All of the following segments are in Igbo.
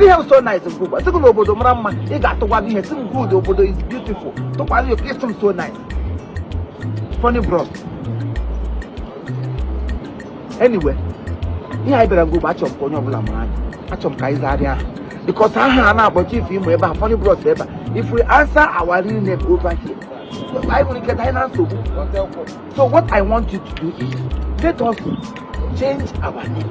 ihe so nice nke ụgba sị gị na obodo mara mma ị ga-atụgwa gị ị sị m good obodo is beautiful tụkwara ya ị sị m so nice funny bros anyway ihe anyị bịara nụ bụ achọghị m ka onye ọbụla mara anyị achọrọ m ka anyị zagharịa aha because aha a na-akpọ chief imo ebe a funny bros ebe a if we answer our real name over here anyị nwere ike danye na nsogbu so what i want you to do is let us change our name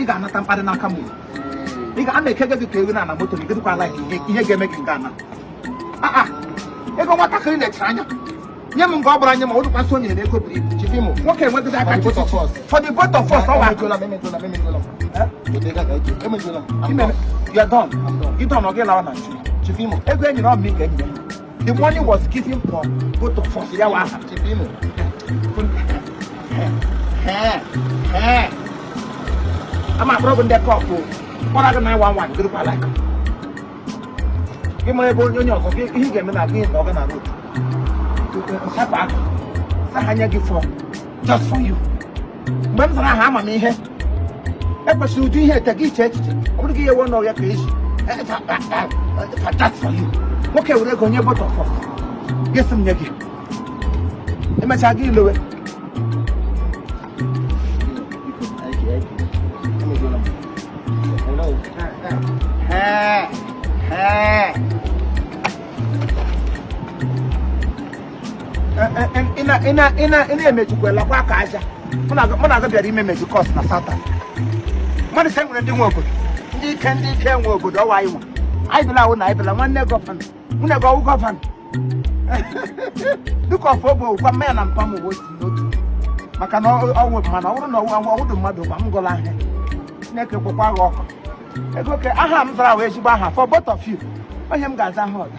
ị ga-anata mkparị n'aka m ị ga ana ekege gị ka ewu na moto gị dịkwa ala ihe ga-eme gị ị ga-ana ego nwatakịrị na-echere anya nye m nke ọ bụla nye ma ọ dịkwa so nyere ego bụ chief imo nwoke wetara ego for the both of us ọwa ịdọn ọ gị lawa na nchi chief imo ego e nyere ọ mụ ka e nyere The money was given for both of us wa ha. Chief Imo. Eh. Eh. Ama problem de cop o. Kpọrọ gị na one one group alike. Gị mara ebe onye onye ọzọ gị ihe ị ga-eme na gị na over the road. Sapụ aka. Sị ha nye gị form. just for you mgbe m zara aha ama m ihe ekwesịrị ụdị ihe ete gị iche echiche ọ bụrụ gị ihe wee n'ọhịa ka eji for just for you nwoke were ego nye both of us gị sị m nye gị emechaa gị ilowe Hey, hey. ị na-emejikwa lakwa aka aja mụ na aga bịara ime mejikọs na satan mmadụ sị e nwere ndị nwe obodo ndị ike ndị ike nwe obodo ọwa anyị nwa anyị bịala ọ wụ na anyị bịala nwanne governor nwanne gị ọ wụ governor dịka ọfọ bụ gwa mma ya na mpa m bụ otu n'otu maka na ọnwụ mana ọ bụrụ na ọnwụ ọwụdụ mmadụ gwa m gụla ahịa chineke kpọkwa gị ọkụ ego ke aha m zara wụ ezigbo aha for both of you onye m ga-aza ha ọda